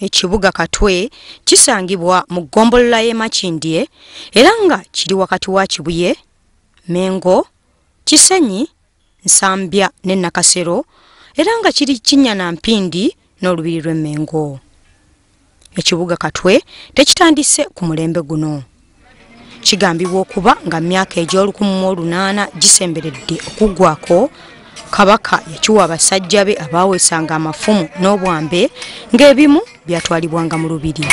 Ekibuga Katwe kisangibwa mu ggombolola y'e Makindye era nga kiri wakati wa Kibuye, Mengo, Kisenyi, Nsambya ne Nakasero era nga kiri kinnya na mpindi n'olubiri lw'e Mengo. Ekibuga Katwe tekitandise ku mulembe guno. kigambibwa okuba nga myaka egy'olukumu mu olunaana gisemberedde okuggwako kabaka yakiwa abasajja be abaaweesanga amafumu n'obwambe ng'ebimu byatwalibwanga mu lubiri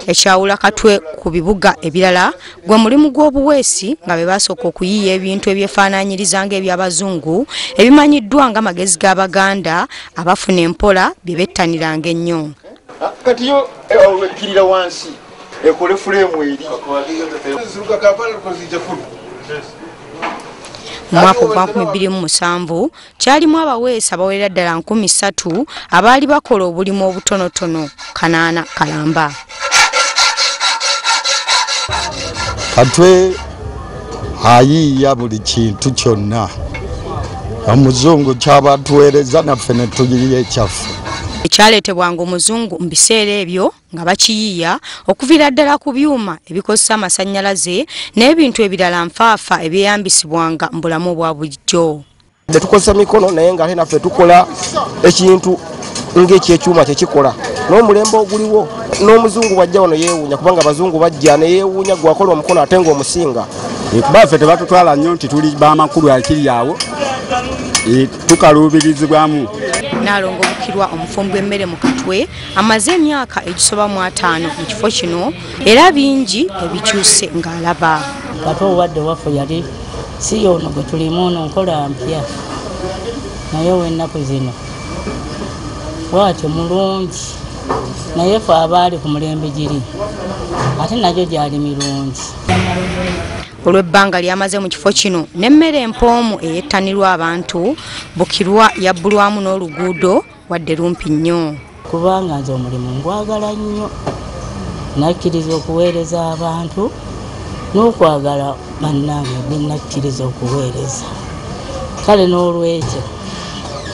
ekyawula katwe ku bibuga ebirala gwe mulimu gw'obuweesi nga be baasooka okuyiiya ebintu ebyefaananyiriza ng'ebyabazungu ebimanyiddwa nga magezi g'abaganda abafuna empola bye bettaniranga ennyo ah, kati yo eh, olwekkirira wansi ekole fuleemu eri mwaka ogwa 2007 kyalimu abaweesi abawerera ddala nkumi ssatu abaali bakola obulimu obutonotono kanaana kalamba katwe ayiiya buli kintu kyonna omuzungu kyaba tuweereza naffe ne tuyiiya ekyaffe ekyaleetebwanga omuzungu mu biseera ebyo nga bakiyiiya okuviira ddala ku byuma ebikozesa amasannyalaze n'ebintu ebirala nfaafa ebyeyambisibwanga mu bulamu obwa bulijjo tetukozesa mikono naye nga ate naffe tukola ekintu ngaekyekyuma kyekikola n'omulembe oguliwo n'omuzungu bwajja wano yeewuunya kubanga abazungu bajja neyeewuunya gwakola omukono ate nga omusinga eh, kuba ffe tebatutwala nnyo nti tuli bamakulu akiri awo eh, tukaluubirizibwamu nalongo bukirwa omufumbi w'emmere mu katwe amaze emyaka egisoba mu ataano mu kifo kino era bingi ebikyuse ng'alaba kati obadde waffe yali si yoono gwe tulimu ono nkola mpya naye ow'ennaku zino bwatyo mulungi naye fe abaali ku mulembe giri ate nagyo gyali mirungi olw'ebbanga lyamaze mu kifo kino n'emmere empoomu eyettanirwa abantu bukirwa yabbulwamu n'oluguudo wadde lumpi nnyo kubanga nze omulimu ngwagala nnyo nakkiriza okuweereza abantu n'okwagala bannange gwe nakkiriza okuweereza kale n'olwekyo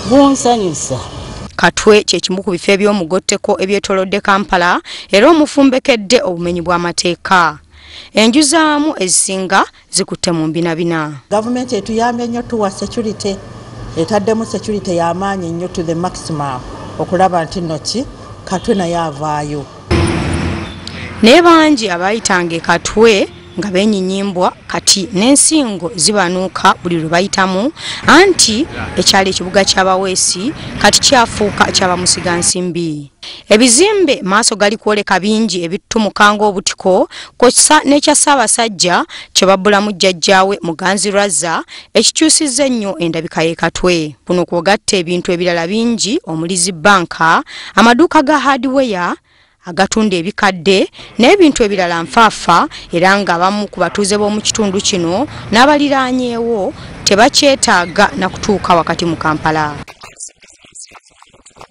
gunsanyusa katwe kyekimu ku bifo ebyomugotteko ebyetolodde kampala era omufumbekedde obumenyi bw'amateeka enju zaamu ezisinga zikutte mu mbinabina. Gavumenti etuyambye nnyo tuwa security, etaddemu security y'amaanyi nnyo to the maximum okulaba nti nno ki Katwe naye avaayo. Naye bangi abaayitanga e Katwe nga beenyinyimbwa kati n'ensingo zibanuuka buli lwe bayitamu anti ekyalo ekibuga ky'abaweesi kati kyafuuka kyabamusigansimbi. Ebizimbe maaso gali kwoleka bingi ebittumuka ng'obutiko kw'ossa n'ekya Ssaabasajja kye babbulamu jjajjaawe Muganzi Razza ekikyusizza ennyo endabika y'e Katwe. Kuno kw'ogatta ebintu ebirala bingi omuli zi bbanka, amaduuka ga haadiweya, agatunda ebikadde n'ebintu ebirala nfaafa era ng'abamu ku batuuze b'omu kitundu kino n'abaliraanyeewo tebakyetaaga na kutuuka wakati mu Kampala.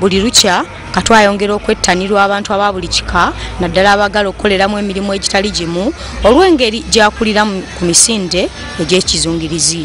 buli lukya katu ayongera okwettanirwa abantu aba buli kika naddala abagala okukoleramu emirimu egitali gimu olw'engeri gyakulira ku misinde egy'ekizungirizi